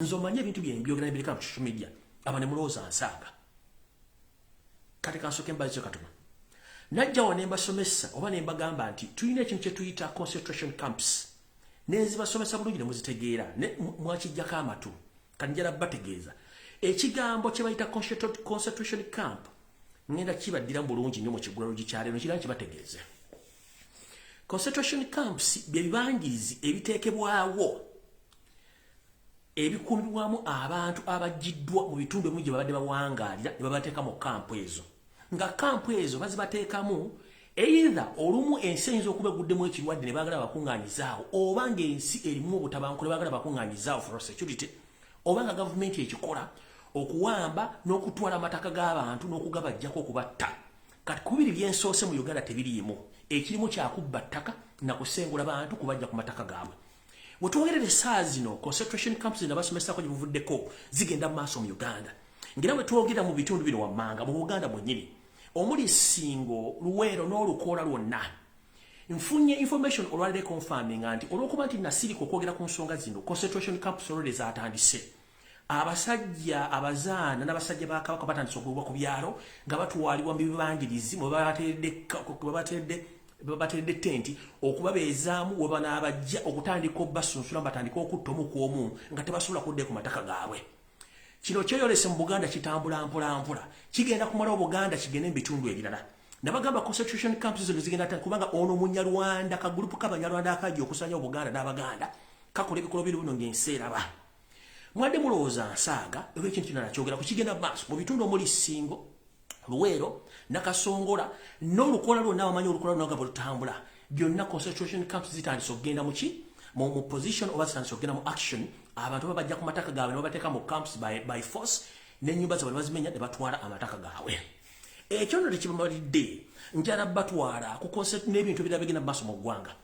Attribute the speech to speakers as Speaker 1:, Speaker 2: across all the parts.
Speaker 1: nze omanye ebintu byenbyogera nebireka ku social media aba nemulowooza nsaaga kati kansoke mbazio katuma najjawo nembasomesa oba nembagamba nti tulina ekintu kyetuyita concentration camps nenzibasomesa bulungi nemuzitegeera mwakijjako amatu kati njala bategeeza ekigambo kyebayita concentration camp ngenda kibaddira mu bulungi nyo mu kigulalo gikyalero kira nkibategeeze concentration camps bye bibangirizi ebiteekebwawo ebikuumirwamu abantu abajjiddwa mu bitundu ebimu gye babadde bawangaalira ne babateeka mu kampu ezo nga kampu ezo bazibateekamu eitha olumu ensi eyinza okuba eguddemu ekirwadde ne baagala bakuŋŋaanyizaawo oba ng'ensi erimu obutabanku ne baagala bakuŋŋaanyizaawo for security oba nga gavumenti ekikola okuwamba n'okutwala amataka g'abantu n'okugabajjako okubatta kati kubiri byensoose mu uganda tebiriimu ekirimu kyakubba ttaka na kusengula bantu kubajja ku mataka gaabwe wetwogerera esaawa zino concentration camps zino abasomesako gyebuvuddeko zigenda mu maaso mu uganda ngera wetwogera mu bitundu bino wammanga mu buganda mwenyini omuli singo luweero n'olukoola lwonna nfunye information olwalire confirming nti olwokuba nti nasirika okwogera ku nsonga zino concentration camps olwere zatandise abasajja abazaana n'abasajja ba kabaka batandise okugobwa ku byalo nga batwalibwa mu bibangirizi mwe bateredde tenti okubabeezaamu we banaabajja okutandika obasunsula nga batandika okutta omu ku omu nga tebasobola kuddayo ku mataka gaabwe kino kyeyolese mu buganda kitambula mpolampola kigenda kumala obuganda kigende mu bitundu ebirala nabagamba constitution camps zino zigenda ta kubanga ono munyarwanda ka group ka banyarwanda akaji okusanya obuganda n'abaganda kakola ebikolo biri buno ng'ensi eraba Mwade mulowooza nsaaga era ekintu kino nakyogera ku kigenda maaso mu bitundu omuli Ssingo, Luweero, Nakasongola n'olukola lwonna wamanyi olukola lwonna nga bwe lutambula byonna concentration camps zitandise okugenda mu ki mu mu position oba zitandise okugenda mu action abantu baba bajja ku mataka gaabwe ne babateeka mu camps by, by force n'ennyumba zaabwe ne bazimenya ne batwala amataka gaabwe ekyo nno tekibamalidde njala batwala ku concert n'ebintu ebirala bigenda mu maaso mu ggwanga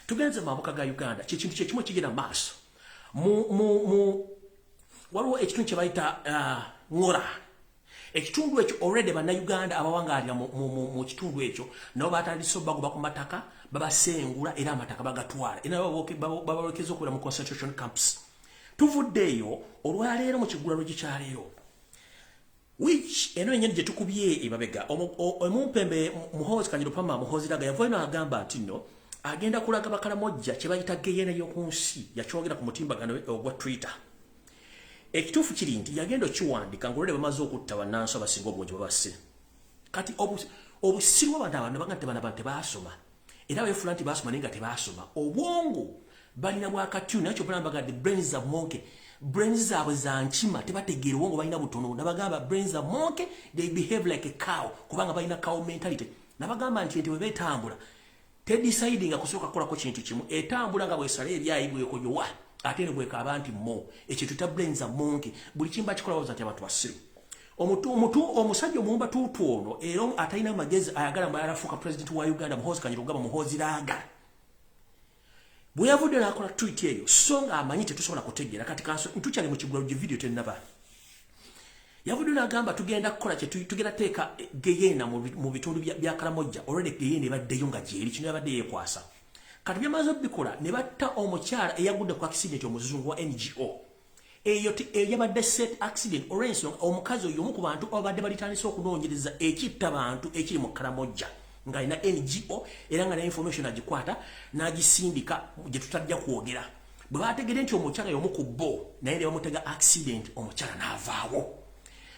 Speaker 1: tugenze mabuka ga uganda kyekintu kyekimu ekigenda mu maaso waliwo ekitundu kyebayita uh, ngora ekitundu ekyo already bannayuganda abawangaalira mu kitundu ekyo nabo batandise obagoba ku mataka babasengula era amataka bagatwala era babalekeza okubeera mu concentration camps tuvudde eyo olwaleero mu kigulalo gikyaleero which eno yenyini gyetukubye emabega omumpembe muhoozi kanyirupama muhoozi daga yavayo n'agamba nti nno agenda kulaga bakalamojja kye bayita geyena y'oku nsi yakyogera ku mutimbagano ogwa twitter ekituufu kiri nti yagenda okiwandika ngolole bamaze okutta bannansi abasinga obungi babasse kati obusiru abantu abantu nebaga nti bana bantu tebaasoma era befula nti basoma naye nga tebasoma obwongo balina bwakatyu naye kyobala mbaga the brains of monkey brains zaabwe za nkima tebategeera obwongo balina butono nabagamba brains of monkey they behave like a cow kubanga balina cow mentality nabagamba nti ente bwebetambula tedecide nga kusooka kukolako kintu kimu etambula nga bwesala ebyayi bwekoyowa ate ne bwekaaba nti mo ekintu ta brains of monkey buli kimba kikola baza nti abantu basiru omutu omutu omusajja omuwumba tuutu ono era atalina magezi ayagala mbalala fuuka pulezidenti wa uganda muhoozi kanyira okugamba muhoozi laaga bwe yavudde n'akola twiti eyo so ng'amanyi tetusobola kutegeera kati kanso ntukyali mu kigula lugi vidiyo tennaba yavudde n'agamba tugenda kukola kye tugenda teeka geyeena mu bitundu bya karamojja olwedde geyeena ebaddeyo nga gyeri kino yabadde yeekwasa kati byamaze obikola ne batta omukyala eyagudde ku akisidenti omuzungu wa ngo eyo eyabadde set accident olwensonga omukazi oyo omu ku bantu ababadde balitandise okunoonyereza ekitta bantu ekiri mu karamojja ng'alina ngo era nga ne information agikwata n'agisindika gye tutajja kwogera bwe baategede nti omukyala y'omu ku bo naye ne bamutega accident omukyala n'avaawo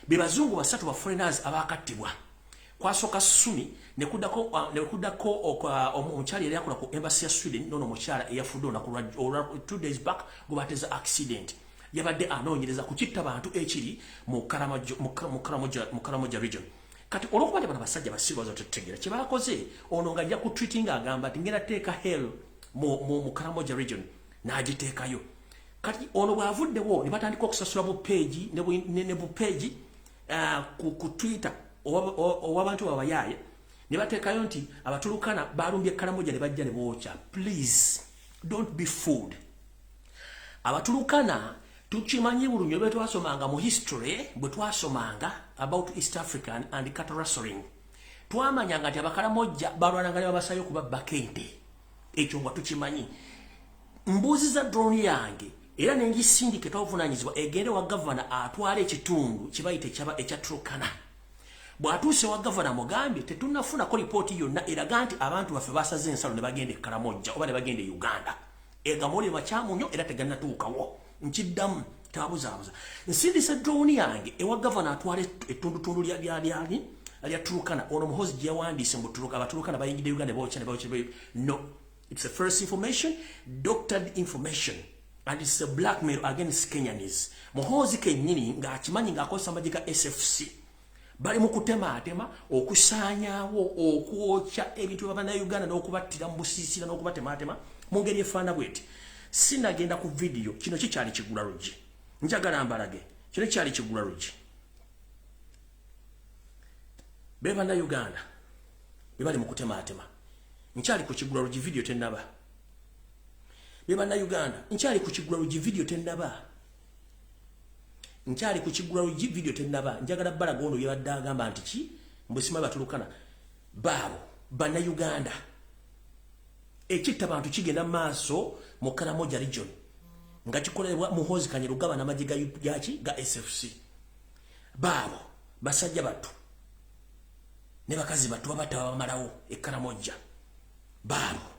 Speaker 1: be bazungu basatu ba foreigners abaakattibwa kwasoka sumi nekudako uh, nekudako uh, omukyala yali akola ku embassy ya Sweden nono mukyala eyafudde olunaku lwa two days back gubateza accident yabadde anoonyereza ku kitta bantu ekiri mu Karamoja region kati olwokuba nti bano basajja basiru baza tetutegeera kye bakoze ono nga ajja ku treating agamba nti ngenda teeka hell mu Karamoja region n'agiteekayo kati ono bw'avuddewo ne batandika okusasula bu peegi ne bu peegi uh, ku, ku twitter owabantu babayaye nebatekayo nti abatulukana balumbye kalamoja ne bajja ne bookya please don't be fooled abatulukana tukimanyi bulunyo bwe twasomanga mu history bwe twasomanga about east africa and, and cattle rustling twamanyanga nti abakalamojja balwananga ne babasayo kuba bakente ekyo nga tukimanyi mbuuziza drone yange era nengisindika etwavunanyizibwa egende wa gavana atwala ekitundu kibayita ekyaba ekya trokana bwatuuse wa gavana mugambye tetunafunako lipooti yonna eraga nti abantu baffe basaze ensalo ne bagenda e karamojja oba ne bagenda e uganda egamoli makyamu nyo era teganatuukawo nkiddamu tabuzaabuza nsindise drone yange ewa gavana atwala ettundutundu lyalyani lya turukana ono muhozi gye yawandiise mu turuka abaturukana bayingidde uganda bokya ne bokya no it's a first information doctored information and it's a blackmail against kenyanis muhozi kenyini ng'akimanyi ng'akozesa amagye ga sfc bali mu kutemaatema okusaanyaawo okwokya ebintu bya bannayuganda n'okubattira mu busiisira n'okubatemaatema mu ngeri efaana bweti sinagenda ku vidiyo kino kikyali kigula luggi njagala mbalage kino kikyali kigula luggi be bannayuganda be bali mu kutemaatema nkyali ku kigula luggi vidiyo tennaba be bannayuganda nkyali ku kigula luggi vidiyo tennaba nkyali ku kigula lugi video tenaba njagala bala gono yaba daga mba ntiki mbusima batulukana babo bana Uganda ekitta bantu kigenda maaso mu Karamoja region nga kikolebwa muhozi kanye lugaba na majiga yaki ga SFC babo basajja batu ne bakazi batu babata bamalawo e Karamoja babo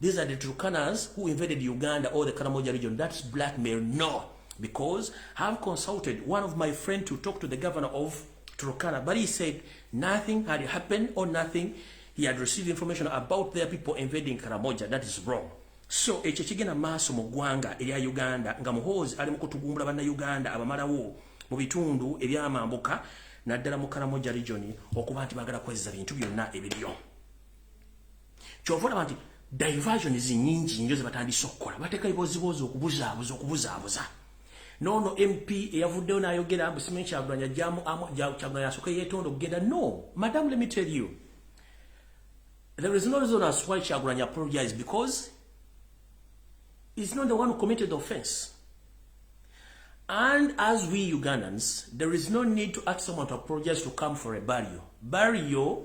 Speaker 1: These are the Turkanas who invaded Uganda or the Karamoja region. That's blackmail. No. Because I've consulted one of my friends to talk to the governor of Turkana, but he said nothing had happened or nothing. He had received information about their people invading Karamoja. That is wrong. So, ekyo kigenda maaso mu ggwanga erya Uganda nga muhoozi ali mu kutugumbula bannayuganda abamalawo mu bitundu ebyamambuka naddala mu Karamoja region okuba nti baagala kwezza bintu byonna ebiriyo. kyova olaba nti diversion zinyingi nyo zebatandise okukola bateka eboziboozi okubuzaabuza okubuzaabuza nono mp eyavuddeyo nayogera mbu simanyi kyagulanya jamu kyagulanya yasoka yetonda okugenda no madam let me tell you there is no reason as why kyagulanya apologize because is not the one who committed the offense and as we ugandans there is no need to ask someone to apologize to come for a barrio barrio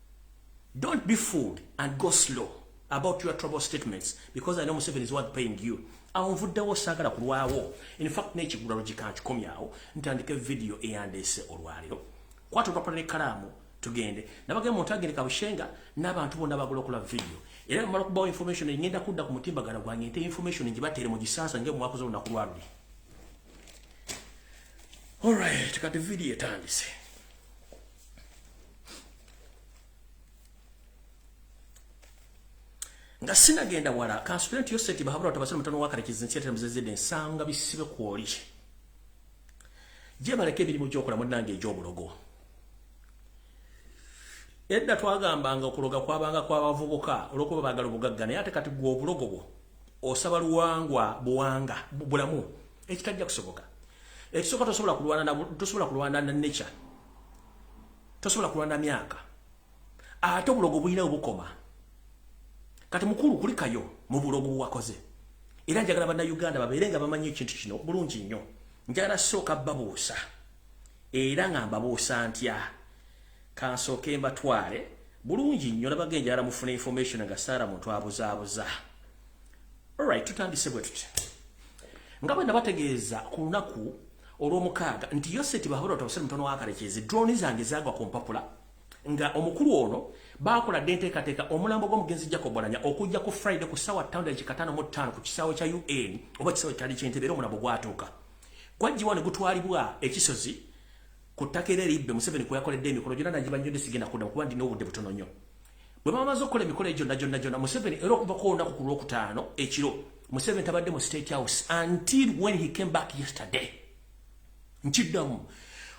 Speaker 1: Don't be fooled and go slow about your trouble statements because I know Museveni is what paying you. Awo nvuddewo saagala kulwawo. In fact, n'ekigula logika nkikomyawo ntandike video eyandeese olwaleero. Kwata olupapula n'ekkalaamu tugende. Nabagenda mu ntagende Kabushenga n'abantu bonna bagula okula video. Era mmala okubawo information engenda kudda ku mutimbagano gwange nte information ngibateere mu gisansa nge mwakoze olunaku lwaluli. All right, kati video etandise. nga sinagenda wala kansubira nti yo sente bahabura batabasira mutano wakarekiza ensi yatera muzezede ensanga bisibe kwoli gye baleka emirimu gyokola munnange egy'obulogo edda twagambanga okuloga kwabanga kwabavubuka olwokuba bagala obugagga naye ate kati gwe obulogo bwo osaba luwangwa buwanga bulamu ekitajja kusoboka ekisooka tosobola kulwana tosobola kulwana na nature tosobola kulwana myaka ate obulogo bulina obukoma kati mukulu kulikayo mu bulogo bwakoze era njagala bannayuganda babeere nga bamanyi ekintu kino bulungi nnyo njagala sooka babuusa era nga mbabuusa ntya kansooke mbatwale bulungi nnyo nabaga enjagala mufuna information nga saara muntu abuzaabuza Alright, tutandise bwe tutya. Nga bwe nabategeeza ku lunaku olw'omukaaga nti Yoseti Bahura Otawasira mutono wa Karekyezi drone zange zaagwa ku mpapula nga omukulu ono baakola dde enteekateeka omulambo gw'omugenzi Jacob Oulanyah okujja ku Friday ku ssaawa ttaano dakika ttaano mu ttaano ku kisaawe kya UN oba kisaawe kyali ky'entebe era omulambo gwatuuka gwajjiwa ne gutwalibwa ekisozi ku ttaka era eribbe Museveni kwe yakoledde emikolo gyonna nagibannyodde sigenda kuddamu kuba ndina obudde butono nnyo. bwe bamaze okukola emikolo egyo gyonna gyonna gyonna museveni era okuvako olunaku ku lwokutaano ekiro museveni tabadde mu state house until when he came back yesterday nkiddamu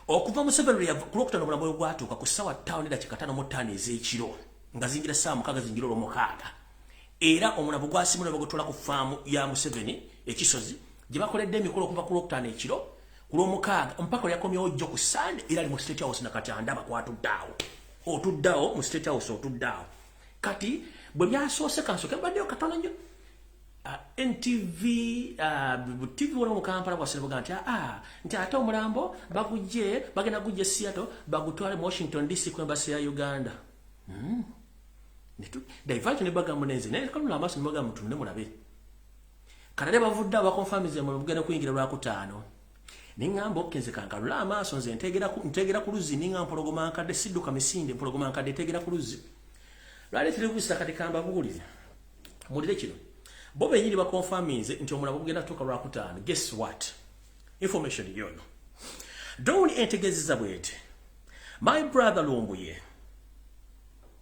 Speaker 1: okuva museveni ku lwokutaano obulamu bwe bwatuuka ku ssaawa ttaano edakikatano mu ttaano ez'ekiro nga zingira ssaawa mukaaga zingira olwomukaaga era omunavu gwasimu nebagutwala ku faamu ya museveni ekisozi gye bakoledde emikolo okuva ku lwokutaano ekiro ku lwomukaaga mpaka lyakomyewo jjo ku sande era ali mu state house nakati andaba kwatuddaawo otudde awo mu state house otudde awo kati bwe byasoose kansoke mbaddeyo katono nnyo ah, ntv ah, tv wona mu kampala bwasirabuga nti aa ah, nti ate omulambo bagujje bagenda gujja e seattle bagutwale mu washington dc ku embasi ya uganda hmm. divert ne bagamu nenze naye kanula amaaso nebagamu tunne mulabe kanade bavudde abakonfamize mu lugenda kuyingira lwakutaano neŋŋamba okke nze kankalule amaaso nze nteegera ku luzzi ninga mpologoma nkadde sidduka misinde mpologoma nkadde eteegera ku luzzi lwali terebusa kati kambabuulire mulire kino bo benyini bakonfaminze nti omulabo gugenda kutuuka lwakutaano guess what information yono dowuni entegeezeza bwete my brother lumbuye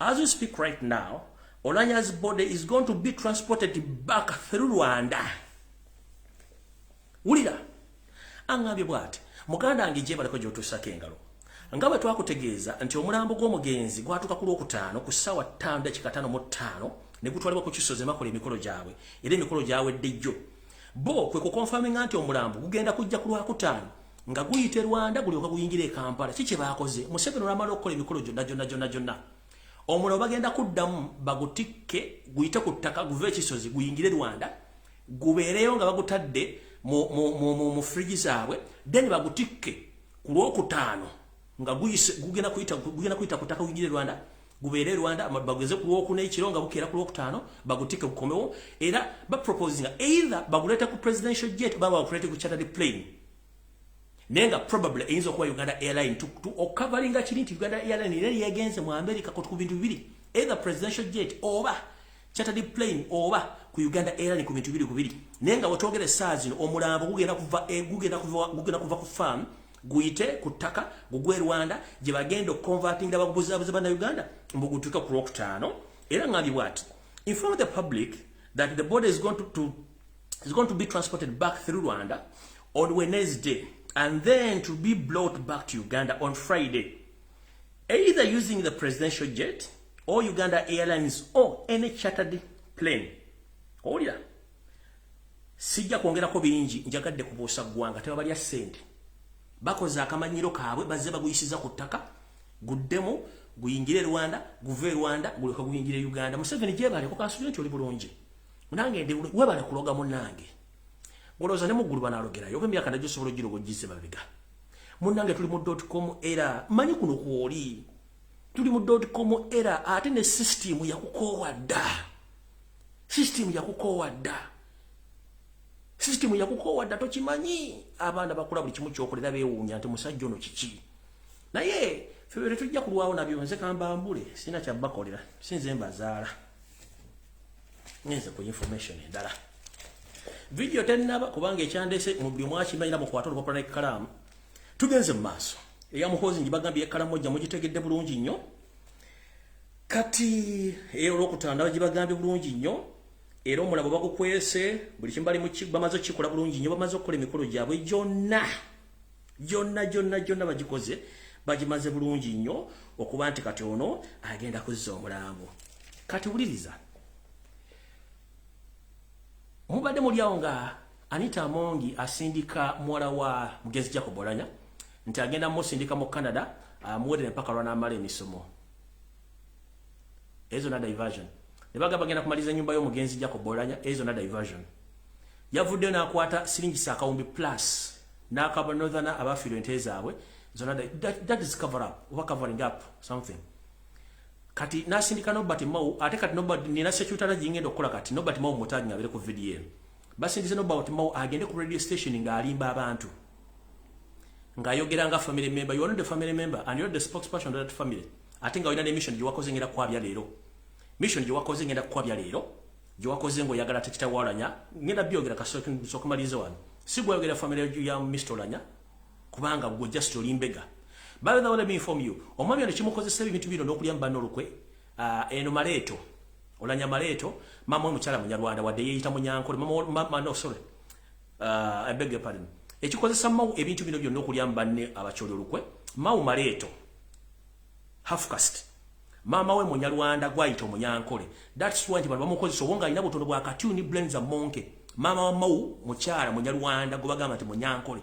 Speaker 1: As we speak right now, Olanya's body is going to be transported back through Rwanda. Wulira, angambye bwati, muganda wange gye baliko gy'otuusako engalo. Nga bwe twakutegeeza nti omulambo gw'omugenzi gwatuuka ku Lwokutaano ku ssaawa ttaano dakika ttaano mu ttaano ne gutwalibwa ku kisozi makola emikolo gyabwe era emikolo gyawedde jjo. Bo kwe kukonfaminga nti omulambo gugenda kujja ku Lwakutaano nga guyita e rwanda gulyoka guyingira e kampala ki kye baakoze museveni olwamala okukola emikolo gyonna gyonna gyonna gyonna omuliro bagenda kuddamu bagutikke guyite ku ttaka guve ekisozi guyingire rwanda gubeereyo nga bagutadde mu frigi zaabwe then bagutikke ku lwokutaano nga gugenda kuyita ku ttaka guyingire rwanda gubeere Rwanda bageze ku lwokuna ekiro nga bukeera ku lwokutaano bagutike bukomewo era ba proposing either baguleeta ku presidential jet baba bakuleete ku chartered plane naye nga probably eyinza okuba Uganda airline to, to ocoveringa oh, kiri nti Uganda airline era yegenze mu America kotu ku bintu bibiri either presidential jet oba chartered plane oba ku Uganda airline ku bintu bibiri ku bibiri naye nga wetwogera essaazi omulambo gugenda kuva eh, gugenda kuva gugenda kuva ku farm guyite ku ttaka gugwe rwanda gye bagenda okukonvatinga bagubuzabuza bana uganda mbu gutuuke ku lwokutaano era ngambye bwati inform the public that the body is going to, to, is going to be transported back through rwanda on wednesday and then to be brought back to uganda on friday either using the presidential jet or uganda airlines or any chartered plane owulira Sijja kwongerako bingi njagadde kubuusa ggwanga tebabalya ssente bakoze akamanyiro kaabwe bazze baguyisiza ku ttaka guddemu guyingire e rwanda guve e rwanda guleka guyingire e uganda museveni gyebaleko kansubire nti oli bulungi munange ndi webale kuloga munange olowooza ne muggulu banalogerayo oba emyaka nagyo osobola ogiroga ogize mabega munange tuli mu dotcom era manyi kuno kwoli tuli mu dotcom era ate ne sisitimu yakukoowa dda System yakukoowa dda. System yakukoowa dda tokimanyi. Abaana bakula buli kimu kyokolera bewuunya nti musajja ono kiki. Naye febe tetujja kulwawo nabyo nze kamba mbule sina kya bakolera sinze mbazaala. Ngenze ku information endala. Video tennaba kubanga ekyandese mu byo mwakimanyira mu kwatolo bakola ekkalaamu. Tugenze mu maaso. Eya muhoozi njibagambye ekkalaamu ojja mugitegedde bulungi nnyo. kati eyo olwokutandaba gibagambye bulungi nnyo era omulabo bagukwese buli kimu bali bamaze okukikola bulungi nnyo bamaze okukola emikolo gyabwe gyonna gyonna gyonna gyonna bagikoze bagimaze bulungi nnyo okuba nti kati ono agenda kuzza omulambo kati wuliriza mubadde muli awo nga Anita Amongi asindika muwala wa mugenzi Jacob Olanya nti agenda musindika mu Canada amuwerere ah, mpaka lwanaamala emisomo ezo na diversion ne bagamba bagenda kumaliza ennyumba y'omugenzi Jacob Olanya ezo na diversion yavuddeyo n'akwata siringi saakawumbi plus n'akaba northerner abafiirwa ente zaabwe zona that, that is cover up oba covering up something kati n'asindika nobert mao ate kati nobert nina sekyutana gingenda okukola kati nobert mao mutagi ngabere ku vidiyo eno basindise no about mau agende ku radio station nga alimba abantu nga ayogera nga family member you are not the family member and you are the spokesperson of that family ate nga olina ne mission gye wakoze ngenda kwabya leero mission gye wakoze ngenda kwabya leero gye wakoze nga oyagala tekitawalanya ngenda byogera kasokumaliza wano si gwayogera family ya mr olanya kubanga gwe just olimbega by the way let me inform you omwami ono kimukozesa ebintu bino n'okulya mu banna olukwe Uh, eno maleeto olanya maleeto mama omukyala munyarwanda wadde yeyita munyankole mama no sorry uh, I beg your pardon ekikozesa mawu ebintu bino byonna okulya mbanne abakyoli olukwe mawu maleeto half cast mama we munyarwanda gwayita omunyankole that's why nti bano bamukozesa obwo ng'alina butono bwa katuni blenza monke mama wa mawu mukyala munyarwanda gwe bagamba nti munyankole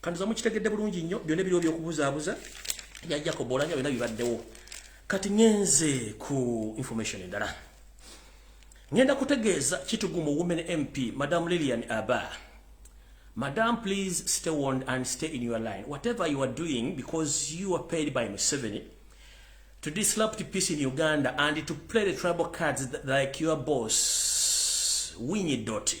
Speaker 1: kantuza mukitegedde bulungi nnyo byona ebiriwo byokubuzaabuza ya jacob olanya byona bibaddewo kati ngenze ku information endala ngenda kutegeeza kitugumu women mp madam lilian aba madam please stay warned and stay in your line whatever you are doing because you are paid by museveni to disrupt peace in uganda and to play the tribal cards like your boss winyi doti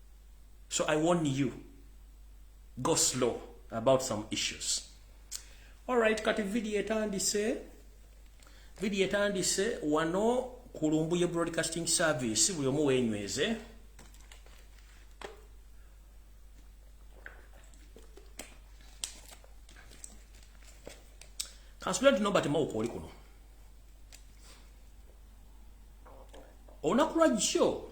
Speaker 1: so i warn you go slow about some issues alright kati video etandise video etandise wano ku lumbuye broadcasting service buli omu wenyweze kansubira nti nobert mawuka oli kuno olunaku lwajjo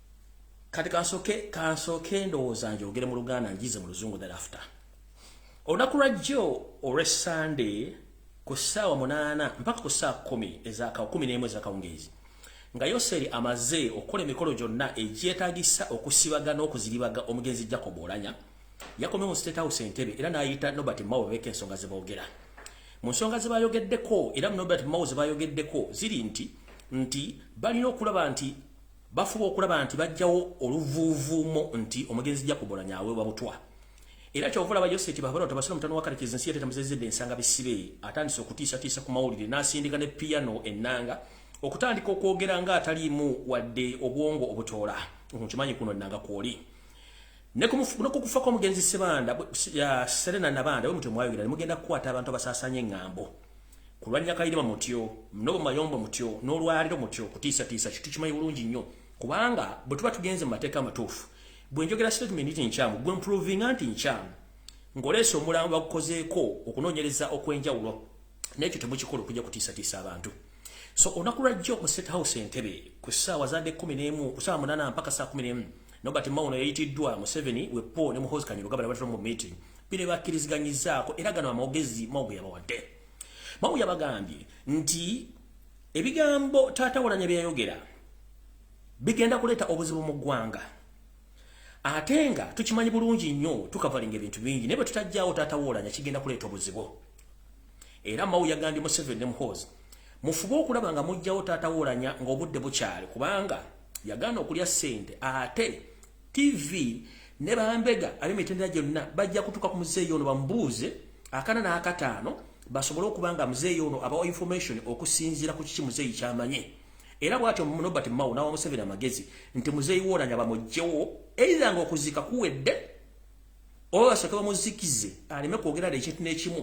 Speaker 1: kati kansoke kansoke ndowooza njogere mu luganda njize mu luzungu thereafter olunaku lwa jjo olwe sunday ku ssaawa munaana mpaka ku ssaawa kumi ezaka kumi n'emu ezakawungeezi nga yoseri amaze okukola emikolo gyonna egyetagisa okusibaga n'okuziribaga omugenzi jacob olanya yakomye mu state house entebe era n'ayita nobert mao beeka ensonga ze boogera mu nsonga ze bayogeddeko era mu nobert mao ze bayogeddeko ziri nti nti balina okulaba nti bafuba okulaba nti bajjawo oluvuuvuumo nti omugenzi jakubolanya aweebwa butwa era kyova olaba yoseti babona tabasira mutano wakalekeeza ensi yateta muzezedde ensanga bisibe atandise okutiisatiisa ku mawulire n'asindika ne piano ennanga okutandika okwogera nga ataliimu wadde obwongo obutoola nkimanyi kuno ennanga kwoli nekukufa kw'omugenzi sebanda serena nabanda we mutwe mwayogera ne mugenda kukwata abantu abasaasanya eng'ambo kulwanya kayirima mutyo nobo mayombo mutyo nolwaliro mutyo kutisa tisa kitu kimayi bulungi nnyo kubanga bwe tuba tugenze mu mateeka amatuufu bwe njogera statement nti nkyamu gwe mprovinga nti nkyamu ng'oleesa omulambo bagukozeeko okunoonyereza okw'enjawulo n'ekyo temukikola okujja kutiisatiisa abantu so olunaku lwajjo mu state house entebe ku ssaawa zaadde kumi n'emu ku ssaawa munaana mpaka saa kumi n'emu Nobert Mao ono yayitiddwa Museveni we Paul ne Muhoozi Kainerugaba ne batula mu meeting bino bakkiriziganyizzaako era gano amawogezi Mao ge yabawadde Mao yabagambye nti ebigambo taata Oulanya bye yayogera bigenda kuleeta obuzibu mu ggwanga ate nga tukimanyi bulungi nnyo tukavalinga ebintu bingi naye bwe tutajjawo taata Oulanya kigenda kuleeta obuzibu era mawu yagambye museveni ne muhoozi mufube okulaba nga mujjawo taata wolanya ng'obudde bukyali kubanga yagaana okulya ssente ate tv ne bambega ab'emitendera gyonna bajja kutuuka ku muzeeyi ono bamubuuze akana n'akataano basobole okuba nga muzeeyi ono abawa information okusinziira ku kiki muzeeyi kyamanye era bwatyo nobert mawo n'awa museveni amagezi nti muzeeyi wolanya bamugjewo eitha nga okuziika kuwedde oba basooke bamuzikize aleme kwogera na ekintu n'ekimu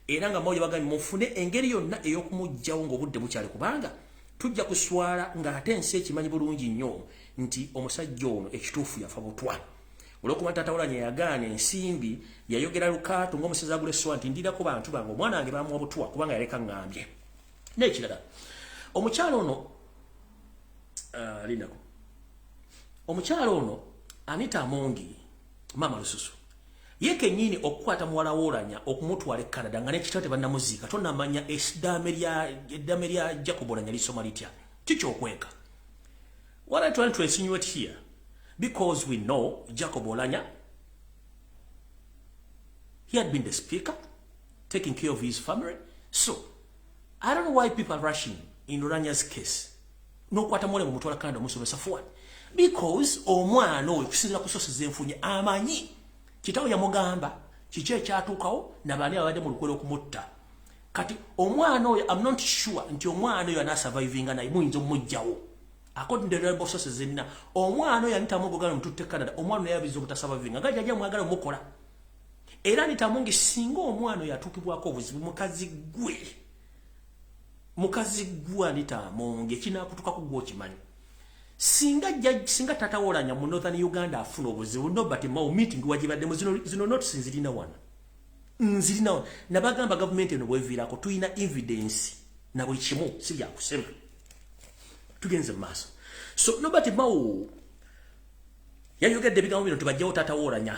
Speaker 1: era nga mawulire bagambye mufune engeri yonna ey'okumuggyawo ng'obudde bukyali kubanga tujja kuswala ng'ate ensi ekimanyi bulungi nnyo nti omusajja ono ekituufu yafa butwa olwokuba taata wolanya yagaana ensimbi yayogera lukaato ng'omusezi agula essowa nti ndirako bantu bange omwana wange bamuwa butwa kubanga yaleka ngambye n'ekirala omukyalo ono ah, linaku omukyalo ono anita amongi maama lususu ye kenyini okukwata muwala wolanya okumutwala e canada nga nekitabo tebanamuziika tonamanya eddame lya jacob olanya lisoma litya kikyokweka what i trying to insinuate here because we know jacob olanya he had been the speaker taking care of his family so i don't know why people are rushing in olanya's case nokwata mole mumutwala Canada omusomesa for what because omwana oyo kusinzira ku sources zenfunye amanyi kitawo yamugamba kiki ekyatuukawo nabaani ababadde mu lukwera okumutta kati omwana oyo am not sure nti omwana oyo anasurvivinga naye muyinza omujjawo according to the reliable sources zenna omwana oyo anita mungu ogala omututte canada omwana oyo abiza obutasurvivinga nga jaja mwagala omukola era anita mungu singa omwana oyo atuukibwako obuzibu mukazi gwe mukazi gwa nita monge kinakutuka kugwa okimanyi singa judge singa tata wolanya mu northern uganda afuna obuzibu no but mau meeting wajibadde mu zino zino not sinzirina wana nzirina wana nabagamba government eno bwevirako tuina evidence na buli kimu si bya kusema tugenze maso so no but mau yayogedde bigambo bino tubajjawo tata wolanya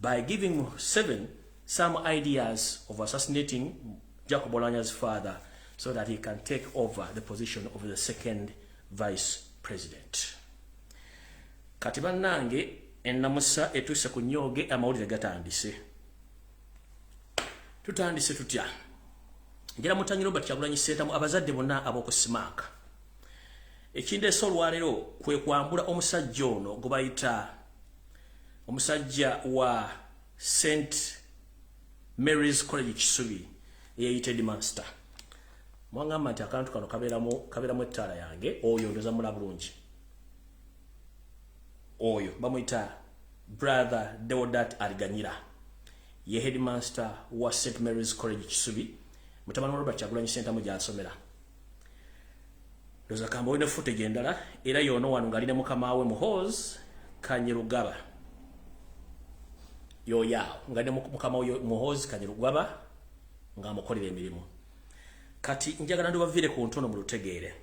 Speaker 1: by giving Museven some ideas of assassinating Jacob Olanya's father so that he can take over the position of the second vice president. Kati bannange ennamusa etuuse ku nyooge amawulire gatandise. Tutandise tutya? Njera mutanyi Robert Kyagulanyi Ssentamu abazadde bonna ab'oku Simaaka. Ekindeese olwaleero kwe kwambula omusajja ono gwe bayita omusajja wa st marys college kisubi eyeyita edmaster mwagamba nti akantu kano kaberamu ettaala yange oyo ndoza mula bulungi oyo bamuyita brother deodat ariganyira ye headmaster wa st marys college kisubi mutabani wa robert kyagulanyi sentamu gyasomera ndoza kamba olina footage endala era yoono wano ngali ne mukama we muhoz kanyirugaba yoyaawo ngali ne mukama we muhoz kanyirugaba nga amukolera emirimu kati njagala ndibavire ku ntono mu lutegeere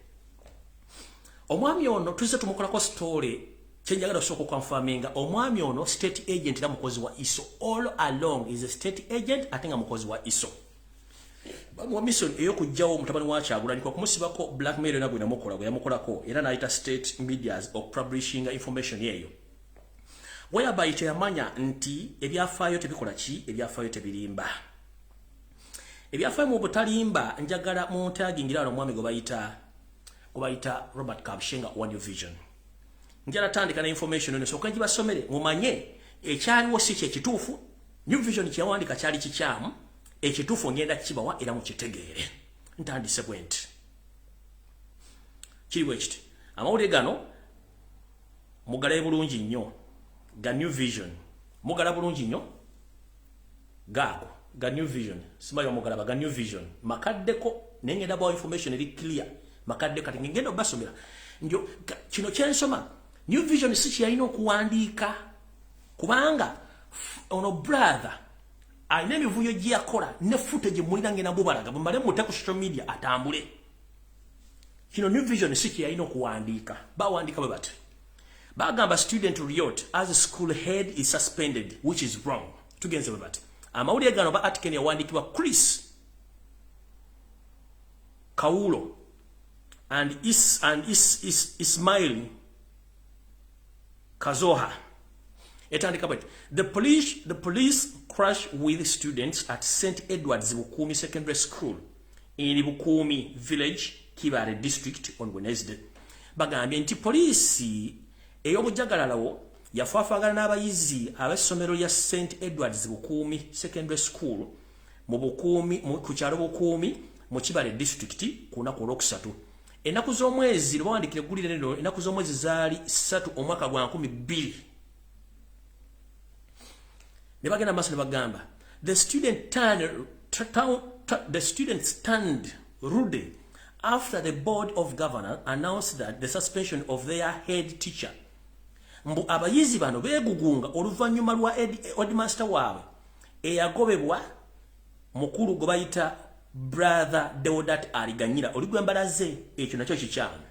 Speaker 1: omwami ono tuzze tumukolako story kyenjagala osooka okwanfaminga omwami ono state agent era mukozi wa iso all along is a state agent ate nga mukozi wa iso wa mission eyokujjawo mutabani wa kyagulanyi kwa kumusibako blackmail yona gwe namukola gwe yamukolako era nayita state medias of publishing information eyo whereby teyamanya nti ebyafaayo tebikola ki ebyafaayo tebirimba ebyafaayo mu butalimba njagala muntagingira wano omwami gwe bayita gwe bayita robert kabshenga one vision njala tandika na information eno soka jibasomere mumanye ekyaliwo si kye kituufu new vision kyawandika kyali kikyamu ekituufu ngenda kibawa era mukitegeere ntandise bwenti kiri bwekiti amawulire gano mugalaye bulungi nnyo ga new vision mugala bulungi nnyo gaako ga new vision simanyi omugalaba ga new vision makaddeko naye ngenda bawa information eri clear makadde kati ngenda obasomera njo kino kyensoma new vision si kyeyalina okuwandiika kubanga ono brother alina emivuyo gyeyakola ne fute gye mulina ngenda mubalaga bumale mute ku social media atambule kino new vision si kyeyalina okuwandiika bawandiika bwe bati bagamba student riot as school head is suspended which is wrong tugenze bwe bati amawulire gano ba artiken yawandiikibwa chris kawulo and is and is is ismail kazoha etandika bwe the police the police crash with students at st edwards bukuumi secondary school in Bukumi village Kibare district on Wednesday bagambye nti poliisi ey'obujagalalawo yafaafagana n'abayizi ab'essomero lya St Edwards Bukuumi Secondary School mu Bukuumi ku kyalo Bukuumi mu Kibale district ku lunaku olwokusatu ennaku z'omwezi lwe bawandikira eggulire lino ennaku z'omwezi zaali ssatu omwaka gwa nkumi bbiri ne bagenda maaso ne bagamba the student turned, the student stand rude after the board of governor announced that the suspension of their head teacher mbu abayizi bano begugunga oluvannyuma lwa headmaster waabwe eyagobebwa mukulu gwe bayita brother deodat aliganyira oligwembalaze ekyo nakyo kikyamu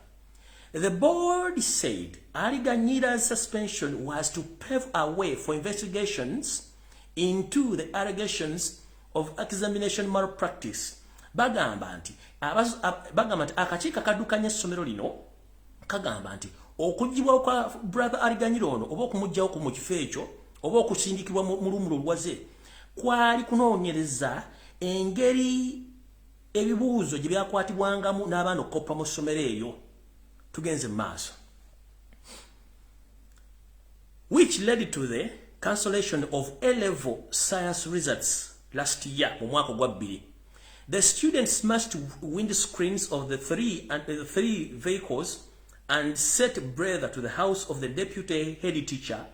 Speaker 1: The board said Ali Ganyira's suspension was to pave a way for investigations into the allegations of examination malpractice. Bagamba nti bagamba nti akakiiko akadukanya essomero lino kagamba nti okugibwa kwa brother Ali Ganyira ono oba okumugyawo ku mu kifo ekyo oba okusindikibwa mu lumula olwaze kwali kunoonyereza engeri ebibuuzo gye byakwatibwangamu n'abaana okukoppa mu ssomero eyo tugenze mu maaso which led to the cancellation of a level science results last year mu mwaka ogwa bbiri the students must wind screens of the three, and, uh, three vehicles and set brother to the house of the deputy head teacher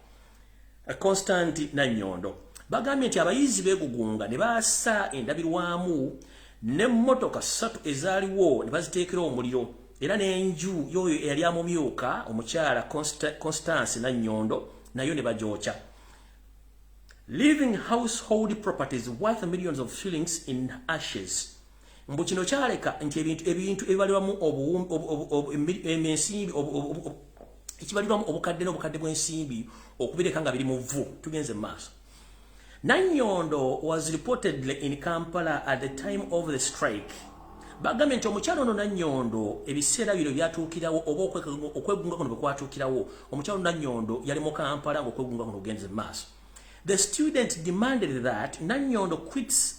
Speaker 1: eh, constant nanyondo bagambye nti abayizi begugunga ne baasa endabirwamu n'emmotoka ssatu ezaaliwo ne baziteekera omuliro era n'enju yoyo eyali amumyuka omukyala constance nanyondo nayo ne bagyokya living household properties worth millions of shillings in ashes mbu kino kyaleka nti ebintu ebintu ebibalirwamu ensimbi ekibalirwamu obukadde n'obukadde bw'ensimbi okubireka nga biri mu vvu tugenze mu maaso nanyondo was reportedly in kampala at the time of the strike bagambye nti omukyalo ono nanyondo ebiseera bino byatuukirawo oba okwegunga kuno bwe kwatuukirawo omukyalo nanyondo yali mu kampala ngaokwegunga kuno ogenze mu maaso the student demanded that nanyondo quits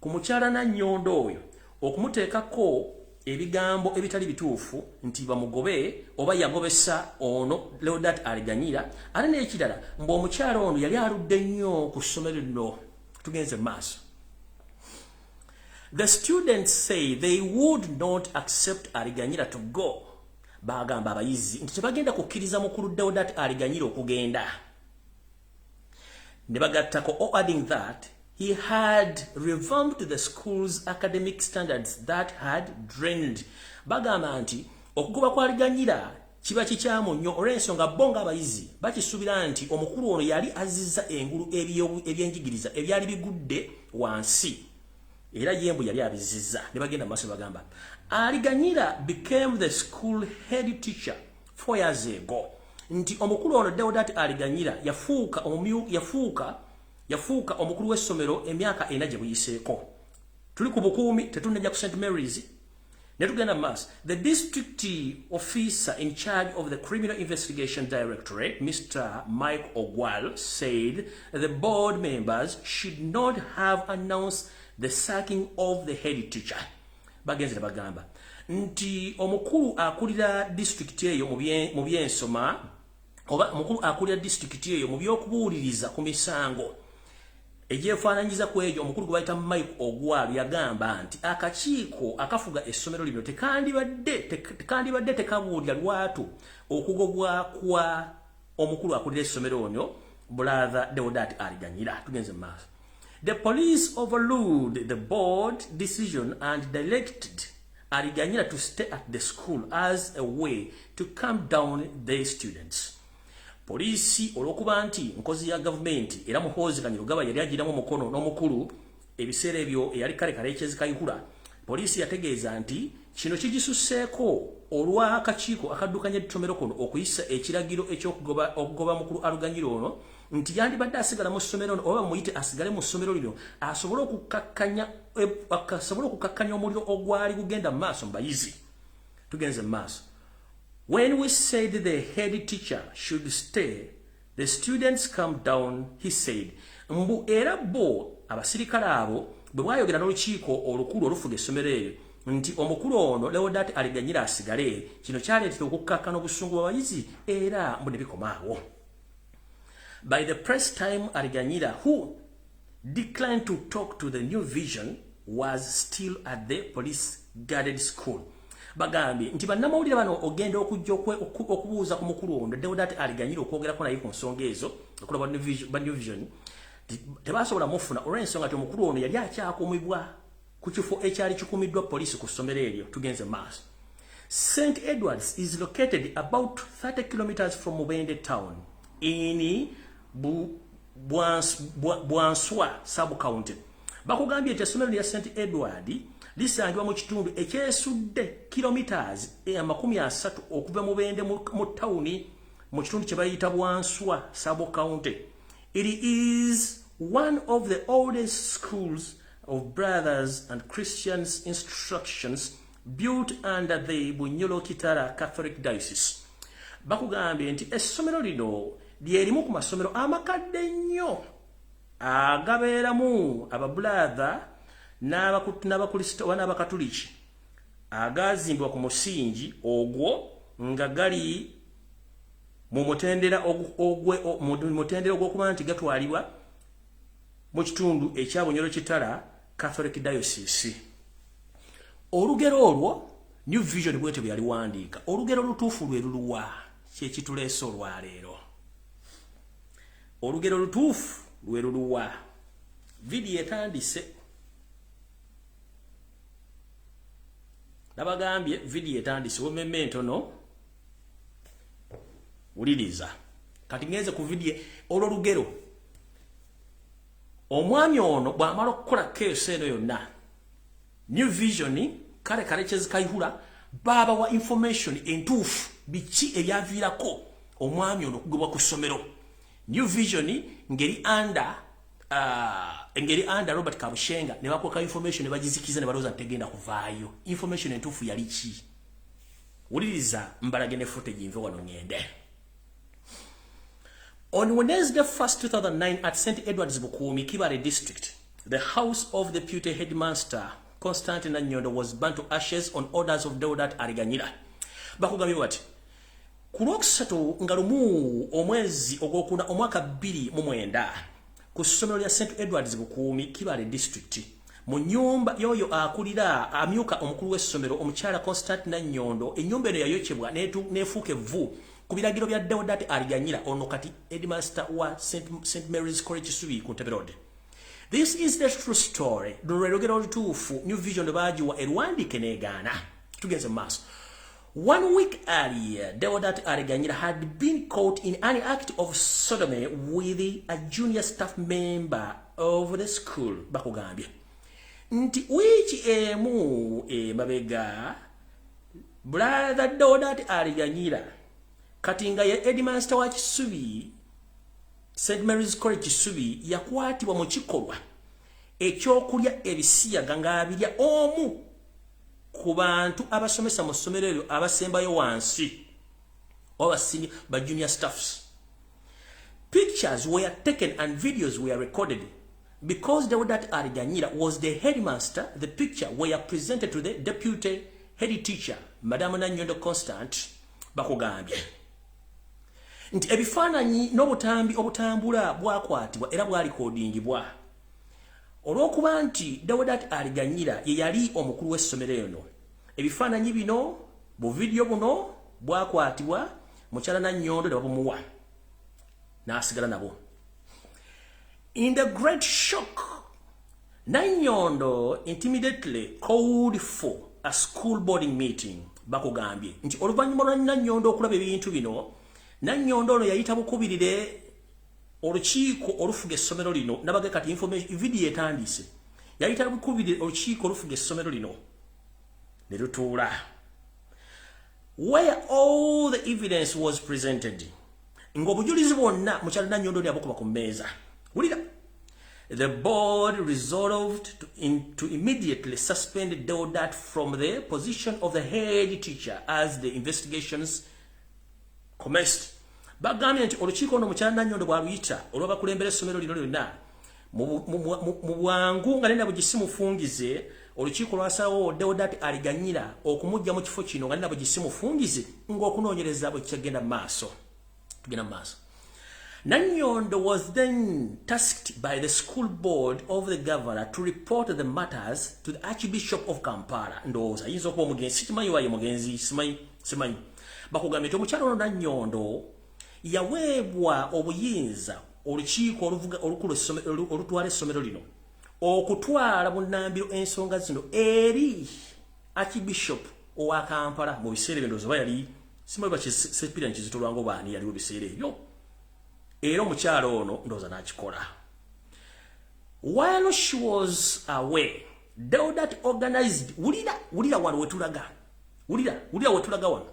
Speaker 1: Ku mukyala Nannyondo oyo okumuteekako ebigambo ebitali bituufu nti bamugobe oba yagobesa ono Leodat Aliganyira ate n'ekirala mbu omukyala ono yali aludde nnyo ku ssomero lino tugenze mu maaso The students say they would not accept Ariganyira to go. Bagamba abayizi nti tebagenda kukkiriza mukulu Deodat Ariganyira okugenda. ne bagattako o oh, adding that he had revamped the school's academic standards that had drained bagamba nti okugoba kwaliganyira kiba kikyamu nnyo olw'ensonga bo ng'abayizi bakisuubira nti omukulu ono yali azizza engulu ebyenjigiriza ebyali bigudde wansi era yembu yali abizizza ne bagenda mu maaso bagamba aliganyira became the school head teacher 4 years ago nti omukulu ono Deodat Aliganyira yafuuka omumyu yafuuka yafuuka omukulu w'essomero emyaka ena gye buyiseeko tuli ku bukuumi tetunnajja ku St Mary's ne tugenda mu maaso the district officer in charge of the criminal investigation directorate Mr Mike Ogwal said the board members should not have announced the sacking of the head teacher bagenze ne bagamba nti omukulu akulira disitulikiti eyo mu byensoma oba omukulu akulira disitulikiti eyo mu by'okubuuliriza ku misango egyefaananyiza ku egyo omukulu gwe bayita mike ogwal yagamba nti akakiiko akafuga essomero lino tekandibadde tekabuulira lwatu okugobwa kwa omukulu akulira essomero onyo bulaadha deodat aliganyira tugenze maaso the police overruled the board decision and directed aliganyira to stay at the school as a way to calm down the students poliisi olwokuba nti nkozi ya gavumenti era muhoozi kanyirugaba yali agiramu omukono n'omukulu Ebiseera ebyo eyali kale kalekyezi Kayihura poliisi yategeeza nti kino kigisusseeko olw'akakiiko akaddukanya ettomero kuno okuyisa ekiragiro ekyokugoba okugoba mukulu aluganyira ono nti yandibadde asigala mu ssomero ono oba bamuyite asigale mu ssomero lino asobole okukakkanya eh, asobole okukakkanya omuliro ogwali gugenda mu maaso mu bayizi tugenze mu maaso when we said the head teacher should stay The students come down, he said. Mbu era bo abasirikale abo bwe bwayogera n'olukiiko olukulu olufuga essomero eryo nti omukulu ono Leodat Aliganyira asigale, kino kyaleetera okukkakkana obusungu bw'abayizi era mbu ne bikoma awo. By the press time Aliganyira who declined to talk to the new vision was still at the police guarded school bagambye nti bannamawulire bano ogenda okujja okubuuza ku mukulu ono deodati aliganyire okwogerako naye ku nsonga ezo okulaba ba new vision tebasobola mufuna olw'ensonga nti omukulu ono yali akyakumibwa ku kifo ekyali kikumiddwa poliisi ku ssomero eryo tugenze maaso st edwards is located about 30 kilometers from mubende town in bwanswa subcounty bakugambye nti essomero lya st edward lisangibwa mu kitundu ekyesudde kilometres eh, amakumi asatu okuva mu bende mu tawuni mu kitundu kye bayita bwanswa subcounty it is one of the oldest schools of brothers and christians instructions built under the Bunyolo Kitara Catholic Diocese. Bakugambye nti essomero lino lyerimu ku masomero amakadde ennyo agabeeramu ababulaadha n'abakulisita oba n'abakatuliki agaazimbibwa ku musingi ogwo nga gali mu mutendera ogw'okuba nti gatwalibwa mu kitundu ekya Bunyolo Kitara Catholic Diocese. Olugero olwo New Vision bwete bwe yaliwandiika olugero olutuufu lwe luluwa kye kituleese olwaleero. Olugero olutuufu lwe luluwa vidiyo etandise nabagambye vidiyo etandise wememe entono wuliriza kati ngenze ku vidiyo olwo lugero omwami ono bwamala okukola keesi eno yonna new vision kale kale kyezikayihula baaba wa information entuufu biki ebyaviirako omwami ono okugobwa ku ssomero new vision ngeri under uh, engeri under robert kabushenga ne bakweka information ne bagizikiza ne balowooza ntegenda kuvaayo information entuufu yali ki wuliriza mbalage ne footage nve wano ngende On Wednesday 1st 2009 at St Edward's Bukumi Kibare district the house of the deputy headmaster Constantine Nanyondo was burnt to ashes on orders of Deodat Ariganyira bakugambye bati ku lwokusatu nga lumu omwezi ogwokuna omwaka bbiri mu mwenda ku ssomero lya st edwards bukuumi kibale district mu nyumba yoyo akulira amyuka omukulu w'essomero omukyala constant nanyondo enyumba eno yayokyebwa nefuuka evvu ku biragiro bya deodati aliganyira ono kati edmaster wa st mary's college subi ku nteberode this is the true story luno lwelogera olutuufu new vision baagiwa erwandike negaana tugenze mu maaso One week earlier, Deodat Areganyira had been caught in an act of sodomy with a junior staff member of the school. Bakugambye. Nti wiiki emu emabega brother Deodat Areganyira kati nga ye headmaster wa Kisubi St Mary's College Kisubi yakwatibwa mu kikolwa ekyokulya ebisiyaga ng'abirya omu ku bantu abasomesa mu ssomero eryo abasembayo wansi oba basimi ba junior staffs pictures were taken and videos were recorded because deodat ariganyira was the headmaster the picture were presented to the deputy head teacher madame nanyondo constant bakugambye nti ebifaananyi n'obutambi obutambula bwakwatibwa era bwalikodingibwa olw'okuba nti deodat aliganyira ye yali omukulu w'essomero eno ebifaananyi bino bu vidiyo buno bwakwatibwa mukyala nannyondo ne babumuwa n'asigala nabwo in the great shock nannyondo intimidately called for a school boarding meeting bakugambye nti oluvannyuma lwa nannyondo okulaba ebintu bino nannyondo ono yayita bukubirire olukiiko olufuga essomero lino nabage kati vidiyo etandiise yayita lukubiri olukiiko olufuga essomero lino ne lutuula where all the evidence was presented ng'obujulizi bwonna mukyalina nyondo ni abukuba ku mmeeza wulira the board resolved to, in, to immediately suspend deodat from the position of the head teacher as the investigations Comest bagambye nti olukiiko ono mukyala Nanyondo bwaluyita olw'abakulembera essomero lino lyonna mu bwangu nga nena bugisi mufungize olukiiko lwasawo Deodat Aliganyira okumujja mu kifo kino nga nena bugisi mufungize ng'okunoonyereza bwe kyagenda maaso tugenda mu maaso Nanyondo was then tasked by the school board of the governor to report the matters to the Archbishop of Kampala. Ndowooza, yinza okuba omugenzi, sikimanyi waye mugenzi, simanyi. simanyi bakugambye nti omukyalo ono nanyondo yaweebwa obuyinza olukiiko olukulu olutwala essomero lino okutwala bunambiro ensonga zino eri archbishop owa kampala mu biseera ebyo ndoozi oba yali simanyi bakisepira nkizitolwango baani yaliwo biseera ebyo era omukyalo ono ndooza nakikola while she was away Deodat organized wulira wulira wano wetulaga Ulira, ulira wetulaga wano.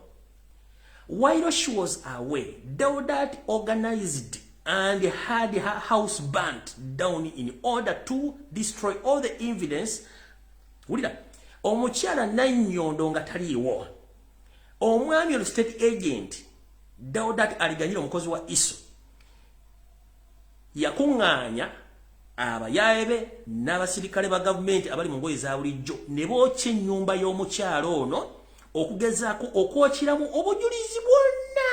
Speaker 1: While she was away, Daudat organized and had her house burnt down in order to destroy all the evidence. Ulira, omukyala nanyondo nga taliiwo. Omwami olu state agent, Daudat aliganyira omukozi wa Iso. Yakuŋŋaanya abayaaye be n'abasirikale ba gavumenti abali mu ngoye za bulijjo ne bookya ennyumba y'omukyala ono okugezaako okwokiramu obujulizi bwonna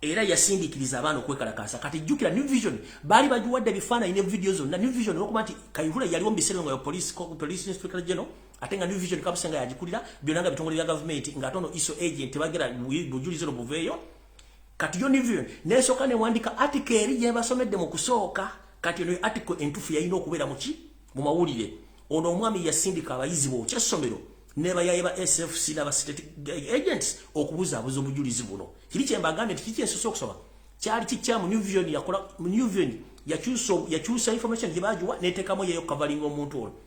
Speaker 1: era yasindikiriza abaana okwekalakaasa kati jjukira new vision baali bagiwadde ebifaananyi ne vidiyo zonna new vision olwokuba nti kayihura yaliwo mu biseera nga police inspector general ate nga new vision kabuse nga yagikulira byonna nga bitongole bya gavumenti nga ate ono iso agent tebagera bujulizi no buveeyo kati yo new vision nesooka newandika atika eri gyebasomedde mu kusooka kati eno atiko entufu yalina okubeera muki mu mawulire ono omwami yasindika abayizi bookya essomero nebayaye ba sfc nabastate agents okubuzaabuza obujulizi buno kiri kyembagambe nti kiki ensosa okusoma kyali kikyamu new vision yakola new vision yakyusa information gyebagiwa netekamu yeyo kavalinga omuntu ono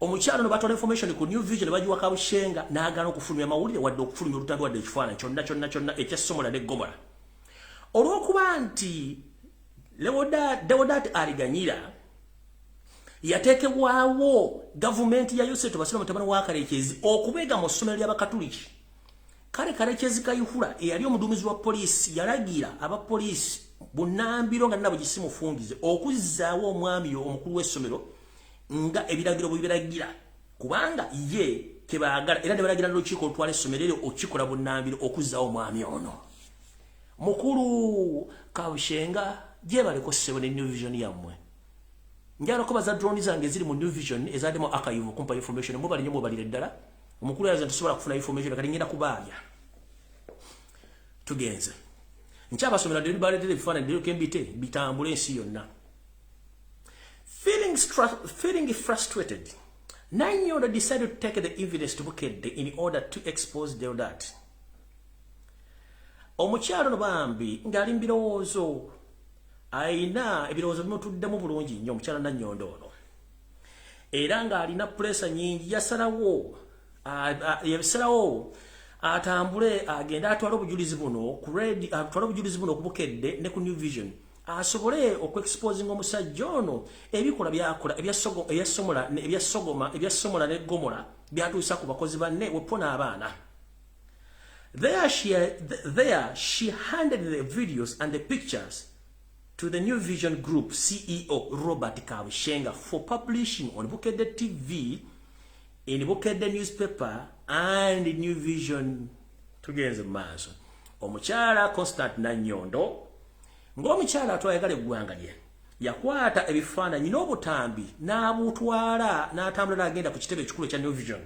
Speaker 1: omukyalo nebatwala information ku new vision bagiwa kabushenga n'agaana okufulumya amawulire wadde okufulumya olutambi wadde ekifaananyi kyonna kyonna kyonna ekya somola ne gomola olw'okuba nti dewodaati aliganyira yateekebwawo gavumenti ya yoseto basiraamu tabana wa kalekyezi okubeega mu ssomero ly'abakatuliki kale kalekyezi kayihura eyali omuduumizi wa poliisi yalagira aba poliisi bunambiro nga nabo gisimufungize okuzzaawo omwami omukulu w'essomero nga ebiragiro bwe biragira kubanga ye kebagala era ne balagira n'olukiiko olutwala essomero eryo okukikola bunnambiro okuzzaawo omwami ono mukulu kabushenga gyebaleko ssebo ne new vision yammwe njala kubaza drone zange eziri mu new vision ezademu akayivu kumpa information mubali nyo mubalire ddala omukulu yaza tusobola kufuna information kati ngenda kubaabya tugenze nkyabasomera dde baletere ebifaananyi dde kembite bitambule ensi yonna Feeling, feeling frustrated, Nanyondo decided to take the evidence to Bukedde in order to expose Deodat. Omukyalo no bambi ngali mbirowoozo aina ebirowoozo bimutuddemu bulungi nnyo omukyala Nanyondo ono. Era ng'alina pulesa nyingi yasalawo yabisalawo atambule agende atwale obujulizi buno ku red atwale obujulizi buno ku Bukedde ne ku New Vision. asobole okuexposinga omusajja ono ebikola byakola ebyasogola ne gomola byatuusa ku bakozi banne wepona abaana there she, there she handed the videos and the pictures to the new vision group ceo robert kabushenga for publishing on bukedde tv in bukedde newspaper and new vision tugenze mu maaso omukyala constant nanyondo ng'omukyala atwayagala eggwanga lye yakwata ebifaananyi n'obutambi n'abutwala n'atambula n'agenda ku kitebe ekikulu ekya new vision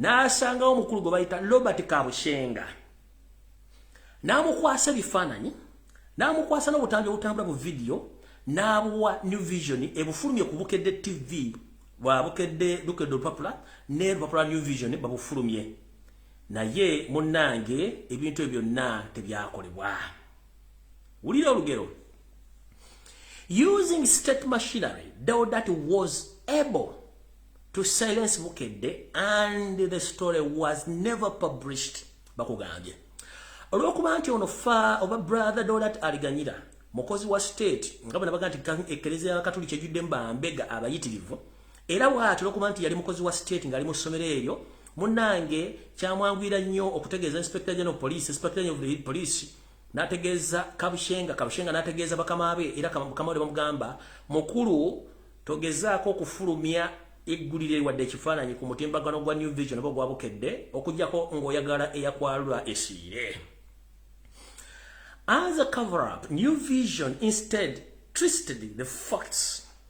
Speaker 1: n'asangawo omukulu gwe bayita robert kabushenga n'amukwasa ebifaananyi n'amukwasa n'obutambi obutambula bu vidiyo n'abuwa new vision ebufulumye ku bukedde tv bwa bukedde lukedde olupapula ne lupapula new vision babufulumye naye munnange ebintu ebyo byonna tebyakolebwa wulira olugero using state machinery deodat was able to silence bukedde and the story was never published bakugambye olwokuba nti ono fa oba brother dolat aliganyira mukozi wa state nga bona baga nti ekereza yakatuli kyejudde mbambega abayitirivu era waati olwokuba nti yali mukozi wa state ngaali mu ssomero eryo munange kyamwangwira nnyo okutegeeza inspector general police inspector general of police nategeeza kabushenga kabushenga nategeeza bakama be era bakama be bamugamba mukulu togezaako okufulumya eggulire liwadde ekifaananyi ku mutimbagano gwa new vision oba gwabukedde okujjako ng'oyagala eyakwalula esiire as a cover up new vision instead twisted the facts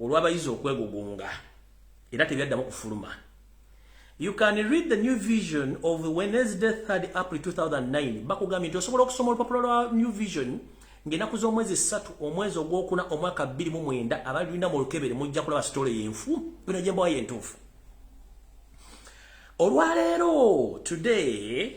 Speaker 1: olw'abayizi okwegugunga era tebyaddamu kufuluma You can read the new vision of Wednesday 3 April 2009 bakugambye nti osobola okusoma olupapula lwa new vision ng'enaku z'omwezi ssatu omwezi ogwokuna omwaka 29 abalina mu lukebere mujja kulaba sitole yenfu bino gyembawa yentuufu olwaleero today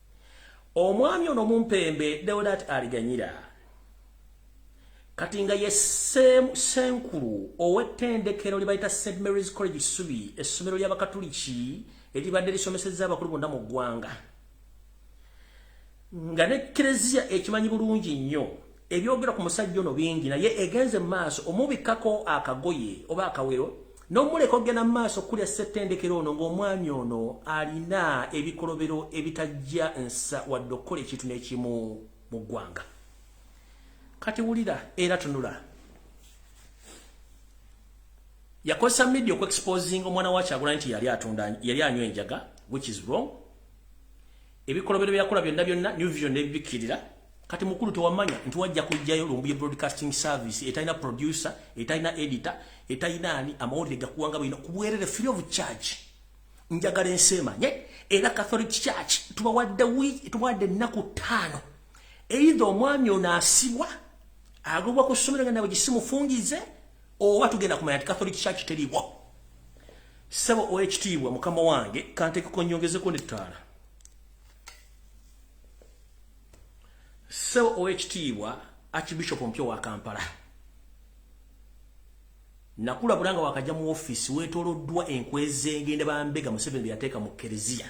Speaker 1: omwami ono mumpembe deodat aliganyira kati nga ye senkulu ow'ettendekero lye bayita st marys college subi essomero ly'abakatuliki eribadde lisomesezza abakulu bonna mu ggwanga nga ne kereziya ekimanyi bulungi nnyo Ebyogera ku musajja ono bingi naye egenze mu maaso omubikkako akagoye oba akawero n'omuleka okugenda mu maaso kulya ssettendekero ono ng'omwami ono alina ebikolobero ebitajja nsa wadde okukola ekintu n'ekimu mu ggwanga kati wulira era tunula yakozesa media okuexposinga omwana wa kyagulanyi nti yali atunda yali anywa enjaga which is wrong ebikolobero byeyakola byonna byonna new vision nebibikkirira kati mukulu tewamanya nti wajja kujjayo lumbuye broadcasting service etalina producer etalina editor etalina ani amawulire gakuwanga bulina kubwerere free of charge njagala ensi emanye era catholic church tubawadde tubawadde ennaku ttaano eitha omwami ono asibwa agobwa ku ssomero nga nawe gisimufungize oba tugenda kumanya ti catholic church teriwo Ssebo ow'ekitiibwa mukama wange kanteekeko nnyongezeko n'ettaala. Ssebo ow'ekitiibwa Archbishop omupya wa Kampala. Nakulabula nga wakajja mu ofiisi weetooloddwa enkwe z'engenda bambega Museveni bye yateeka mu kereziya.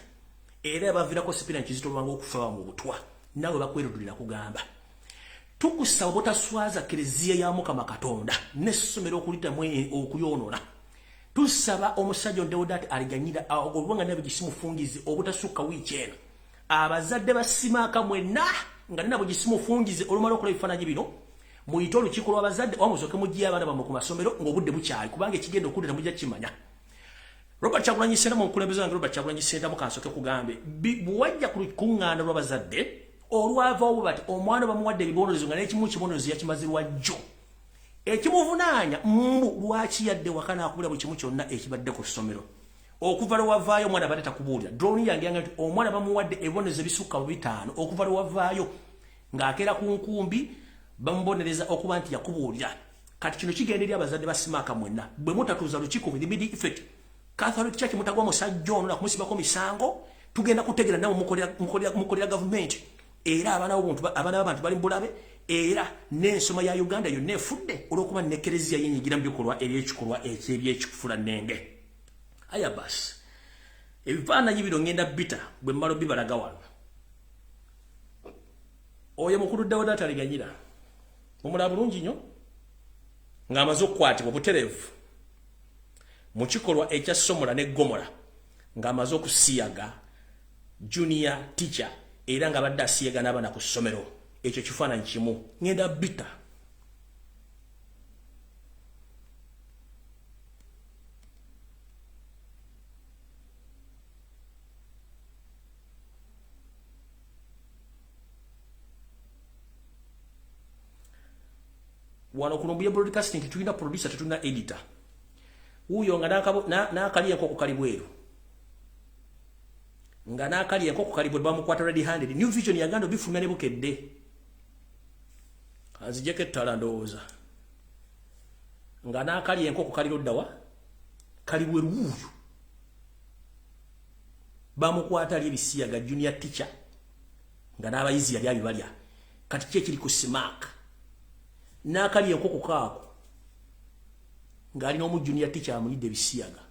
Speaker 1: Era yabaviirako Sipirani Kizito Lwanga okufa bawa mu butwa. Naawe bakwerudde nakugamba. Tukusaba obutaswaza kereziya ya Mukama Katonda n'essomero okuliddamu e, okuyoonona. tusaba omusajja deodati aliganyira olubanga nabe gisimufungize obutasukka wiiki eno abazadde basimaaka mwenna nga ninabo gisimufungize olumala okola ebifaananyi bino muyite olukiiko lw'abazadde oba musoke mugiye abaana bamwe ku masomero ng'obudde bukyali kubanga ekigenda okuddira mujja kimanya robert kyagulanyi senta mu nkulembeze wange robert kyagulanyi senta mukansoke kugambe bwewajja ku lukuŋŋaana lw'abazadde olwavawo bwe bati omwana bamuwadde ebibonerezo nga n'ekimu kibonerezo yakimazirwa jjo ekimuvunaanya mbu lwaki yadde waka nakubuulira buli kimu kyonna ekibadde ku ssomero okuva lwe wavaayo omwana badde takubuulira droni yange yanga nti omwana bamuwadde ebibonerezo ebisukka mu bitaano okuva lwe wavaayo ng'akeera ku nkumbi bamubonereza okuba nti yakubuulira kati kino kigenda eri abazadde basimaaka mwenna bwe mutatuuza lukiiko with immediate effect catholic church mutagwa musajja ono nakumusibako misango tugenda kutegera nawe mukolera gavumenti era abaana b'abantu bali mubulabe era n'ensoma ya uganda yonna efudde olw'okuba nekereziya yenyigira mu bikolwa eby'ekikolwa ekyebyekikufula nenge aya basi ebifaananyi bino ngenda bita bwe mmalo bibalaga wano oyo mukulu dawudi ataliganyira omulaba bulungi nnyo ng'amaze okukwatibwa obutereevu mu kikolwa ekya somola ne gomola ng'amaze okusiyaga junior teacher era nga badde asiyega n'abana ku ssomero ekyo kifaananyi kimu ngenda bita wano kuno mbuye broadcasting tulina producer tetulina editor wuyo nga nakaliye nko kukali bweru nga n'akali enkoko kali bwe bamukwata ready handed new vision yaganda obifulumya ne bukedde azijeko ettala ndowooza nga n'akali enkoko kali loddawa kali bwe luwuuyo bamukwata ali ebisiyaga junior teacher nga n'abayizi yali abibalya kati ki ekiri ku simaaka n'akali enkoko kaako ng'alina omu junior teacher amuyidde ebisiyaga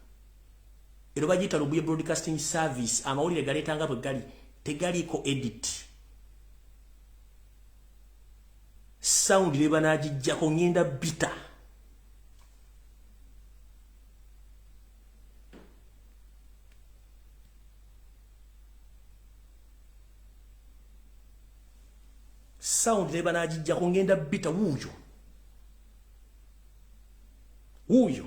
Speaker 1: ero bagiyita lubuye broadcasting service amawulire galeeta nga bwe gali tegaliiko edit sound ne banagijjako ngenda bita sound ne banagijjako ngenda bita wuuyo wuuyo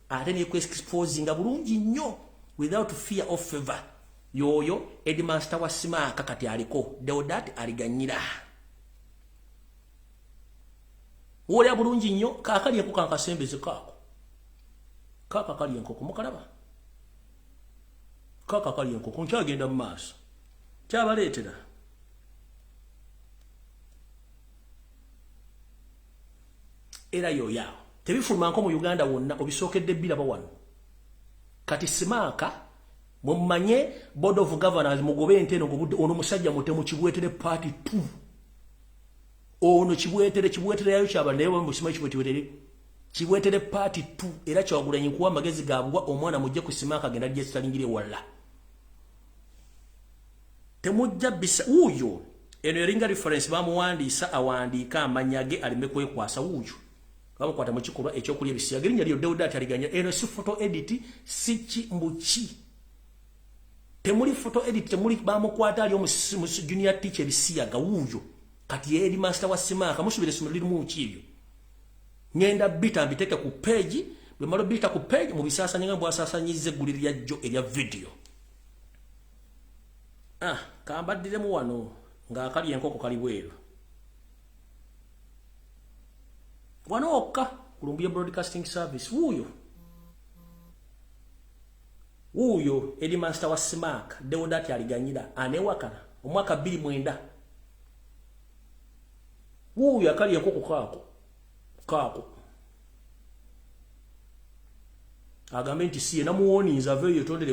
Speaker 1: ate nekwexposinga bulungi nnyo without fear of favor yoyo edmaster wa simaaka kati aliko deodat aliganyira wolya bulungi nnyo kakali enkoko ankasembeze kaako kaaka kali enkoko mukalaba kaaka kali enkoko nkyagenda mu maaso kyabaleetera era yoyaawo tebifuluma nko mu uganda wonna obisookedde biraba wano kati simaaka mumanye board of governors mugobe ente eno ngobudde ono musajja mutemu kibwetere party t ono kibwetere kibwetere yayo kyaba naye bamusima kibwetere kibwetere party t era kyawagulanyi kuwa amagezi gabwa omwana mujje ku simaaka agenda jesitalingire walla temujja bisa wuuyo eno eringa reference bamuwandiisa awandiika amanya ge aleme kwekwasa wuuyo bamukwata mu kikolwa ekyokulya ebisiyaga erinnya lyo dewuda ataliganya eno si foto editi si ki mbuki temuli foto edit temuli bamukwata ali omusimusi junior teacher bisiyaga wuyo kati eri master wa simaka musubire simu liri muki ebyo ngenda bita mbiteke ku page bwe malo bita ku page mu bisasa nyinga mbwa sasa nyize guliri ya jo eya video Ah, kambaddiremu wano ng'akali enkoko kali bweru wano okka ku lumbuye broadcasting service wuuyo wuuyo eri mansita wa simaaka dewodaati aliganyira aneewakana omwaka bbiri mwenda wuuyo akali enkoko kaako kaako agambe nti si ye namuwoninza aveeyo yetondere